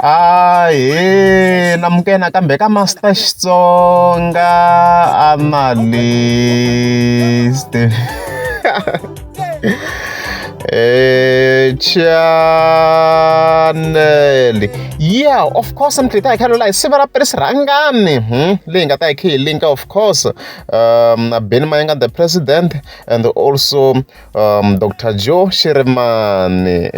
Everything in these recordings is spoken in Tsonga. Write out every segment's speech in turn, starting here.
ahe namukena kambe ka master xitsonga analyst eh channel yeah of course mi tlita hi khalo la hi siva ra pres rhangani hmm? leyi nga ta hi khe hi linka of course um beni mayanga the president and also um, dr joe shirimani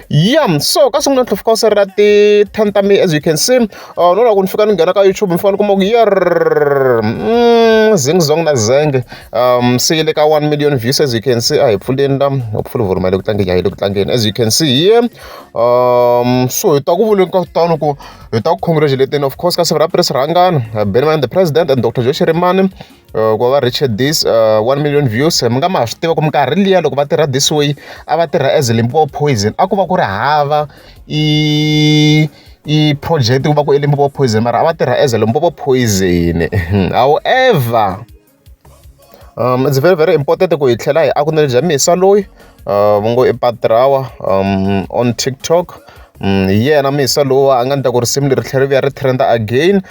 yeah so ka sungula ntlhofu ka u serela ti-ten ta mi as you can see uh, no loko ni fika ni nghena ka youtube mi fanele kuma ku yer mm, zing zong na zenge um se le ka one million views as you can see a hi pfuleni la hopefully vurima le ku tlangeni a hi le ku tlangeni as you can see here um so hi ta ku vuleni ka kutani ku hi ta ku congratulating of course ka siku ra pres rhangana benman the president and dr joshi rimani ku va va reach this one million views mi nga ma swi tiva ku minkarhi liya loko va tirha this way a va tirha as Limpopo poison a ku va ku ri hava i i project ku va ku i Limpopo poison mara a va tirha as Limpopo poison however um it's very very important ku hi tlhela hi acknowledge Misa loyi. va ngo i patrawa on TikTok hi yena musa lowa a nga ni ta ku risimu leri tlhela ri vuya ri trend again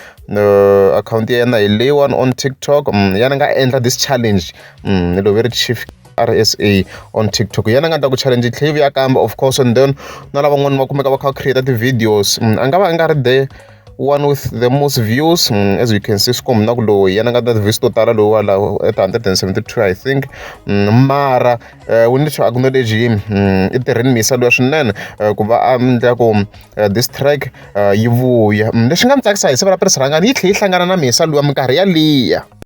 akhawunti ya yena hi leyiwani on TikTok ya ni nga endla this challenge ni loveri chief RSA on TikTok yena nga ta ku challenge yi tlhela yi vuya kambe of course and then na lavan'wana va kumeka va kha va create ti-videos a nga va a nga ri there. one with the most views mm, as you can see swikombi na ku lowu yena nga na ti-views to tala lowu wala at 172 i think mm, mara eh, wu ni xo acknowledge him mm, i tirheni misa loya swinene eh, ku va a endla ku eh, this track yi vuya lexi nga ni tsakisa hi siva ra pirisirhangani yi tlhe yi hlangana na misa lowa minkarhi yaliya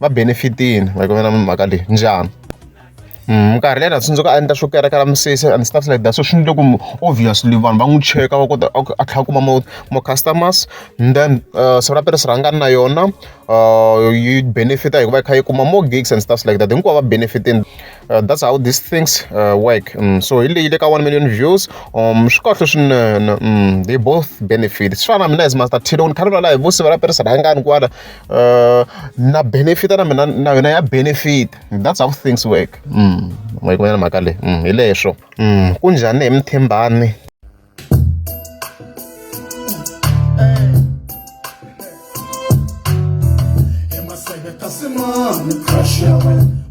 va benefit-ini va ku va na mhaka leyi njhani minkarhi leyi a ni tsundzuka a endla swo kerekela misisi and stuff like that so swi endle ku obviously vanhu va n'wi cheka va kota a tlhela a kuma mo mo customers and then uh, siku ra tirhisi rhangani na yona uh, yi benefita hikuva yi kha yi kuma more gigs and stuff like that hinkwavo va benefitini uh, that's how these things uh, work mm, so hi leyi le ka one million views um swi kahle swinene mm, they both benefit swi fana na mina as master tilo ni khalula laha hi vusiva ra tirhisi rhangani kwala na benefit na mina na yona ya benefit that's how things work mm. ma yi kumela mhaka leyi mm, hi leswo mm. ku njhani hi mithembani Crush your